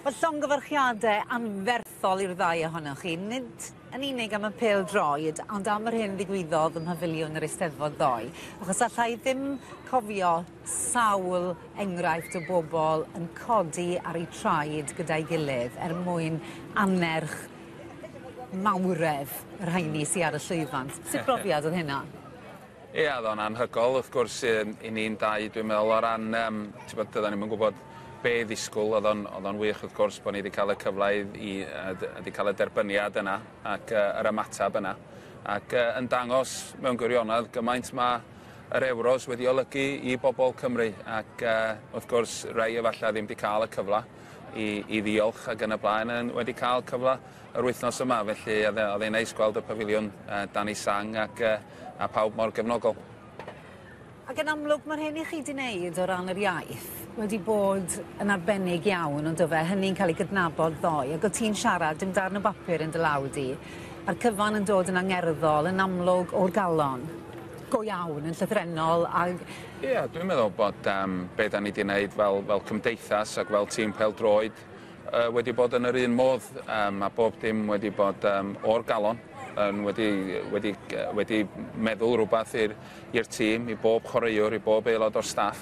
Mae llongyfarchiadau anferthol i'r ddau ohonoch chi, nid yn unig am y pêl droed, ond am yr hyn ddigwyddodd ym Mhafiliwn yr Eisteddfod ddoe, achos alla i ddim cofio sawl enghraifft o bobl yn codi ar eu traed gyda'i gilydd er mwyn annerch mawredd y rheini sy ar y llwyfan. Sut brofiad oedd hynna? Ia, oedd o'n anhygoel, wrth gwrs, i ni'n dau, dwi'n meddwl, o ran, um, ti'n bod, dyda ni'n mynd gwybod be ddisgwyl, oedd o'n, oedd o'n wych, wrth gwrs, bod ni wedi cael y cyfle i, i wedi cael y derbyniad yna ac uh, yr ymateb yna. Ac uh, yn dangos mewn gwirionedd gymaint mae yr Euros wedi olygu i bobl Cymru ac uh, wrth gwrs rei efallai ddim wedi cael y cyfle i, i ddiolch ac yn y blaen yn wedi cael cyfle yr wythnos yma felly oedd e'n neis gweld y pafiliwn uh, dan ei sang ac uh, A pawb mor gefnogol. Ac yn amlwg, mae'r hyn i chi wedi wneud o ran yr iaith wedi bod yn arbennig iawn, ond dofe, hynny'n cael ei gydnabod ddoe, ac o ti'n siarad, dim darn o bapur yn dy law di, a'r cyfan yn dod yn angerddol, yn amlwg o'r galon go iawn yn llythrennol ag... Ie, yeah, dwi'n meddwl bod um, be da ni wedi gwneud fel, fel cymdeithas ac fel tîm pel droed pawb yy wedi bod yn yr un modd yym ma' bob dim wedi bod yym o'r galon yn wedi wedi gy- wedi meddwl rwbath i'r i'r tîm i bob chwaraewr i bob aelod o'r staff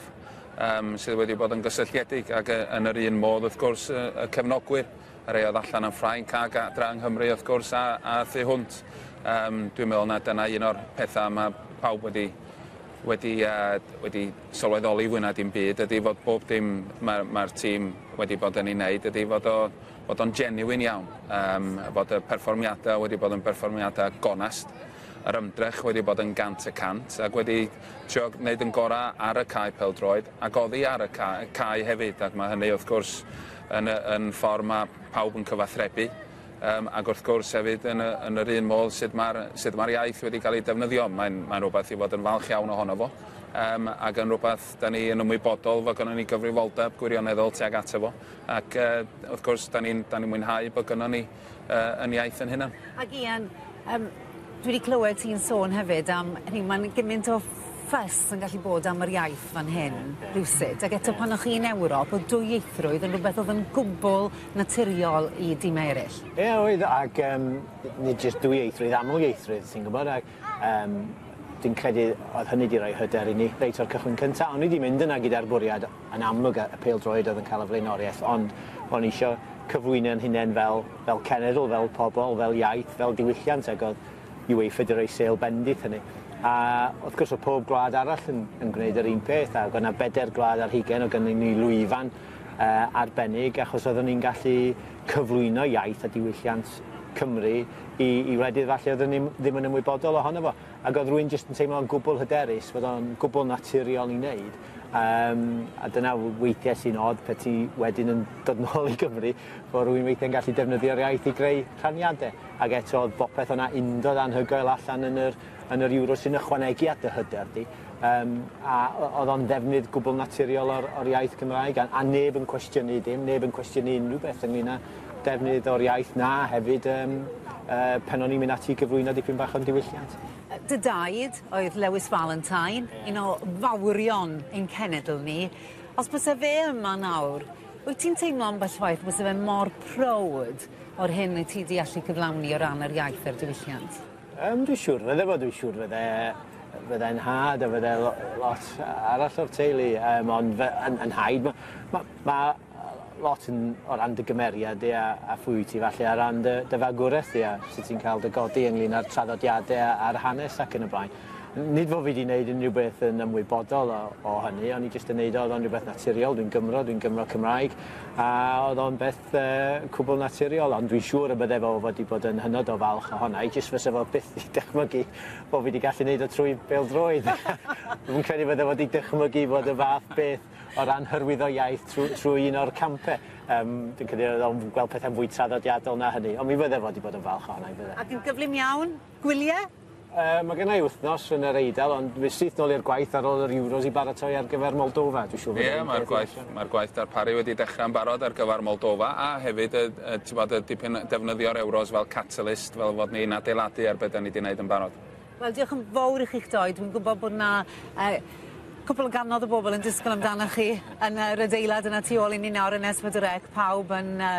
yym sydd wedi bod yn gysylltiedig ag yy yn yr un modd wrth gwrs yy y cefnogwyr y rhei o'dd allan yn Ffrainc ag adra yng Nghymru wrth gwrs a a thu hwnt yym dwi'n meddwl na dyna un o'r petha ma' pawb wedi wedi yy wedi sylweddoli fwy na dim byd ydi fod bob dim ma' ma'r tîm wedi bod yn ei wneud ydi fod o fod o'n genuine iawn, yym fod y perfformiadau wedi bod yn berfformiadau gonest, yr ymdrech wedi bod yn gant y cant ac wedi trio wneud yn gorau ar y cae pêl-droed ac oddi ar y cae, cae hefyd ac mae hynny wrth gwrs yn, yn ffordd mae pawb yn cyfathrebu. Yym, ac wrth gwrs hefyd yn y, yn yr un modd sut mae'r sut mae'r iaith wedi cael ei defnyddio. Mae'n mae'n rhywbeth i fod yn falch iawn ohono fo. Yym, ac yn rhywbeth da ni yn ymwybodol fod gynnon ni gyfrifoldeb gwirioneddol tuag ato fo. Ac uh, wrth gwrs da ni'n da ni mwynhau bod gynnon ni uh, yn iaith yn hynna. Ac Ian, um, dwi wedi clywed ti'n sôn hefyd am hynny, mae'n gymaint o ffys yn gallu bod am yr iaith fan hyn, rhywsut. Ac eto pan o'ch chi'n Ewrop, o dwyieithrwydd yn rhywbeth oedd yn gwbl naturiol i dimau eraill? Ie oedd ac yym nid jyst dwyieithrwydd, amlieithrwydd ti'n gwybod ac yym dwi'n credu oedd hynny wedi rhoi hyder i ni reit o'r cychwyn cyntaf. O'n i wedi mynd yna gyda'r bwriad yn amlwg y pêl-droed oedd yn cael y flaenoriaeth ond o'n i eisiau cyflwyno'n hunain fel, fel cenedl, fel pobl, fel iaith, fel diwylliant ac oedd UEFA wedi rhoi sêl bendith hynny. A wrth gwrs o pob gwlad arall yn, yn gwneud yr un peth ac oedd yna bedair gwlad ar hugain o gynnig ni lwyfan arbennig achos oeddwn ni'n gallu cyflwyno iaith a diwylliant Cymru i, i wledydd falle oeddwn ni ddim yn ymwybodol ohono fo. Ac oedd rwy'n jyst yn teimlo'n gwbl hyderus fod o'n gwbl naturiol i wneud. Um, a dyna weithiau sy'n od pe ti wedyn yn dod nôl i Gymru, fod rwy'n weithiau'n gallu defnyddio'r iaith i greu rhaniadau. Ac eto oedd bopeth o'na undod anhygoel allan yn yr, yn yr Euros sy'n ychwanegu at dy hyder di. Yym, a o- oedd o'n ddefnydd gwbl naturiol o'r o'r iaith Gymraeg a a neb yn cwestiynu dim, neb yn cwestiynu unrhyw beth ynglŷn â defnydd o'r iaith 'na hefyd yym yy pan o'n i'n mynd ati i gyflwyno dipyn bach o'n diwylliant. Dy daid oedd Lewis Valentine, un o fawrion ein cenedl ni. Os byse fe yma nawr, wyt ti'n teimlo ambell waith byse fe mor prowd o'r hyn wyt ti 'di allu cyflawni o ran yr iaith a'r diwylliant? Yym dwi siwr fydde fo dwi siwr fydde fyddai'n nhad a fydde lo- lot arall o'r teulu yym ond fy yn yn nhaid ma' ma' ma' yy lot yn o ran dy gymeriad di a a phwy wyt ti falle ar ran dy dy fagwraeth di a sut ti'n ca'l dy godi ynglŷn â'r traddodiade a a'r hanes ac yn y blaen. N- nid fo fi di neud unrhyw beth yn ymwybodol o o hynny o'n i jyst yn neud o o'dd o'n rwbeth naturiol dwi'n Gymro dwi'n Gymro Cymraeg a o'dd o'n beth beth cwbl naturiol, ond dwi'n siŵr y bydde fo wedi bod yn hynod o falch ohona i, jyst fyse fo byth 'di dychmygu bo fi 'di gallu neud o trwy bêl-droed! Dwi'm yn credu bydde fo 'di dychmygu bod y fath beth o ran hyrwyddo iaith trw- trwy un o'r campe, yym dwi'n credu oedd o'n gweld pethe'n fwy traddodiadol na hynny, ond mi fydde fo 'di bod yn falch ohona i bydde? Ac yn gyflym iawn, gwylie? Uh, mae gennau wythnos yn yr Eidal, ond fi syth nôl i'r gwaith ar ôl yr Euros i baratoi ar gyfer Moldova. Dwi'n siŵr bod yeah, mae'r gwaith, mae gwaith darparu wedi dechrau yn barod ar gyfer Moldova, a hefyd y, y, bod, y dipyn defnyddio'r Euros fel catalyst, fel fod ni'n adeiladu ar beth da ni wedi gwneud yn barod. Wel, diolch yn fawr i chi'ch doi. Dwi'n gwybod bod na uh, cwpl o ganodd o bobl yn disgwyl amdano chi yn yr adeilad yna tu ôl i ni nawr yn Esbydrec, pawb yn uh,